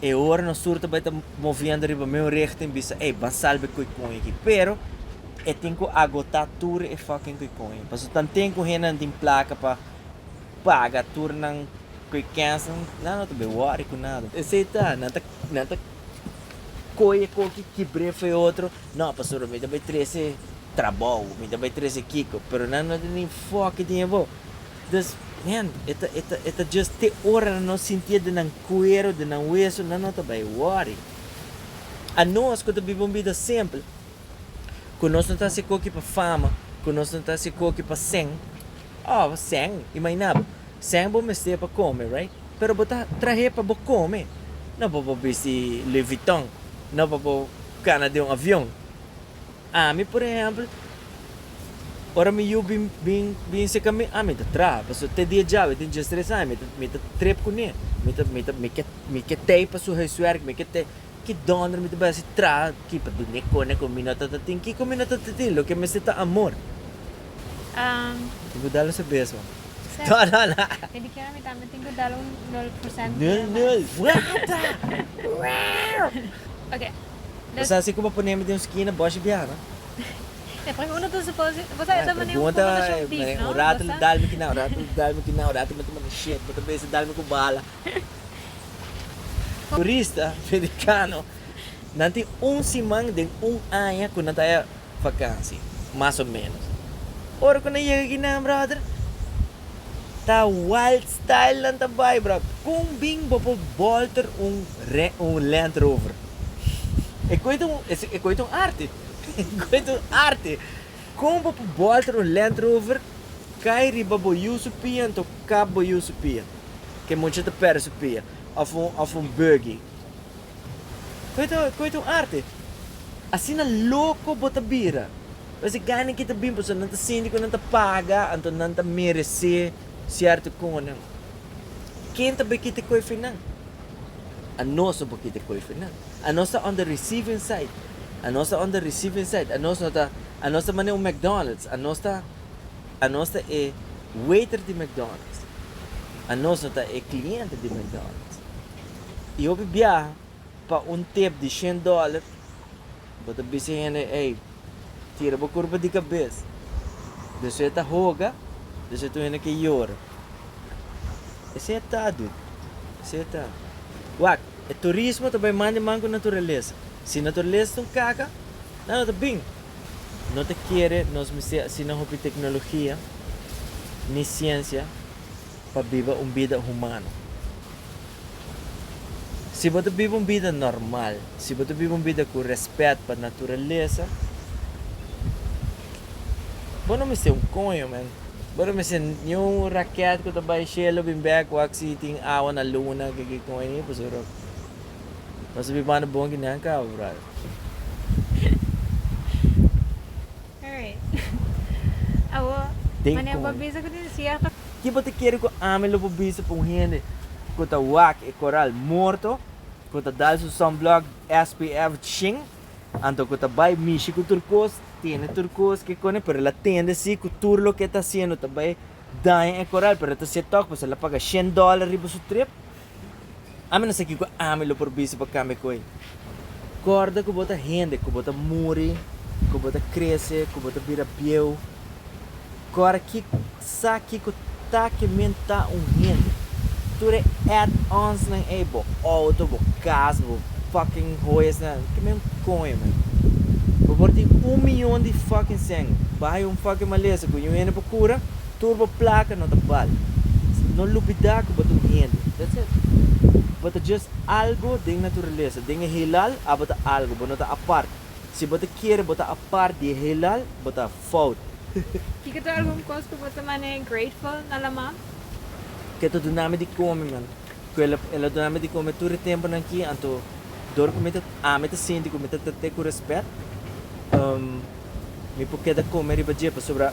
E ora nos tur ta bai ta moviendo riba meu richting bisa, ey, ban salba e koikoi aki. Pero e tin cu agota tur e fucking koikoi. Paso tanten cu hendenan tin placa pa paga tur nan koikensnan, nan no ta bai worry cu nada. Esey ta, nan ta, nan ta coy e koki, kibr'e fu e otro, no, pasobra mi ta bai trece trabou, mi ta bai trece kico, pero nan no ta tin foki tin abo. Dus, men, e ta, e ta, e ta just te ora nan no sintié den nan kuero, den nan weso, nan no ta bai wòri. A nos ku ta biba un bida simpel, ku nos no ta hasi koki pa fama, ku nos no ta hasi koki pa sèn, oh, sèn, imagina bo, sèn bo mester pa kome, right? Pero bo ta trah'é pa bo kome, no pa bo bisti Louis Vuitton, no pa bo kana den un avion. Ami por ehempel, ora mi yu bin bin bin seka mi ami ta traha, pasobra te dia djabe tin djes tres aña mi ta mi ta trep kuné, mi ta mi ta mi ke mi ke tei pa su huiswerk, mi ke tei, ki donder mi ta bai hasi traha ki pa dune kone kon mi no ta ta tin, kiko mi no ta ta tin, loke mester ta amor. Mi tin ku dal su beso. No no no. E di kier ami tambe tin ku dal un nul por sènto. Nul nul. Wata! Wao! Oke, Bo sa si ku bo ponemi den un skina bòshi biaha? E pregu uno ta supose, bo sa e ta manera un konversashon big, no? Un ratu lo dalmi kiná, un ratu lo dalmi kiná, un ratu mi ta manda shit, bo ta bisa dalmi ku bala. Turista merikano nan tin un siman den un aña ku nan ta haya vakansi, mas o menos. Ora ku nan yega aki nan, bròder? Ta wild style nan ta bai bra. Con bin bo por bolter un un land rover? E coe ta un e coe ta un arte e coe ta un arte. Con bo por bolter un land rover cay riba bo yu su pia anto kap bo yu su pia ke mucha ta perde su pia of un of un buggy Koito koito un arte. Asina loko bo ta bira. Pues e gana ki ta bin pasobra nan ta sinti ku nan ta paga, anto nan ta meresé sierto konan. Ken ta bai kita koifi nan? Anos no por kita koifi nan. Anos ta on the receiving side, anos ta on the receiving side. Anos no ta, anos ta manera un McDonald's, anos ta, anos ta e waiter di McDonald's, anos no ta e kliente di McDonald's. y hopi biaha pa un tip di shen dollar, bo ta bisa hende ey tira bo curpa di cabes, despues ta hoga, despues tur hende ke yora. Esey ta dude, esey ta. Wak, e turismo ta bay man di man cu naturalesa, si naturalesa ta un caca, nan no ta bin, no ta kere nos mester asina hopi tecnologia ni ciencia pa biba un bida humano. Si bo ta biba un bida normal, si bo ta biba un bida ku rèspèt pa naturalesa, bo no mester un koño, men. Bo no mester ni un rakèt ku ta bai shelu bin bèk wak si tin awa na luna, ke kiko ei, pasobra bo ta bibando bon ki nan kaba, bròder. Den con. Ki bo ta kere cu ami lo por bisa pa un hende cu ta wak e coral morto, cu ta dal su sunblock SPF shing, anto cu ta bay mishi cu tur cos, tene tur cos kicone, pero el a tende si cu tur loke e ta haciendo ta bay daña e coral, pero el ta haci e tok, pues el a paga shen dollar riba su trip, Ami no sa kiko ami lo por bisa pa cambia cu ey. Corda cu bo ta hende cu bo ta muri, cu bo ta crece, cu bo ta bira bieu. Cora ki sa kiko ta ke mi ta un hende. Tur e add-onsnan ey, bo auto, bo cas, bo fucking hoyasnan, ke mi un coño men. Bo por tin un miyon di fucking seng, baha yo un fucking malesa cu yo hende por cura, Tur bo plaka no ta bal. No lubida ku bo ta un hende. That's it. Bo ta just algo den naturalesa. Den e heelal abo ta algo. Bo no ta apart. Si bo ta kere bo ta apart di e heelal, bo ta fout. Kiko ta algun kos ku bo ta man'é grateful na Laman? Ke ta duna mi di kome, man. Ku el a duna mi di kome tur e tempunan aki, anto dor ku mi ta ami ta sinti ku mi ta trat'é ku rèspèt. Mi por keda kome riba dje pasobra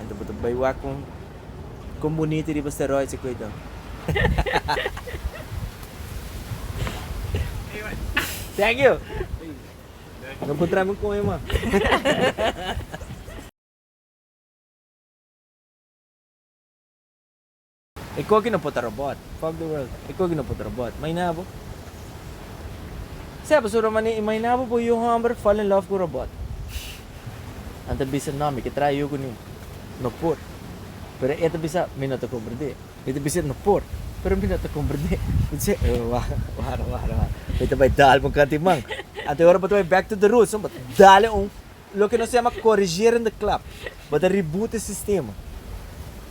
Enta bo ta bai wak con con bonito riba steroids e koe Thank you. No por traimi un coño mas. E koki no por ta robot. Fuck the world. E koki no por ta robot. Maina bo. Sep su Romani, imaina bo por yu homber fall in love ku robot. Nan ta bisa, No, mi ke traha yu ku ni. No por. Pero e ta bisa, Mi no ta komprendé. Mi ta bisa, No por. Pero mi no ta komprendé. Mi ta si, Oh, wara, wara, wara, wara. Mi ta bai dal bo un kanti man. Anto ora bo ta bai back to the roots, no? Bo ta dale un, loke nos yama corrigeren de klap. Bo ta reboot e sistema.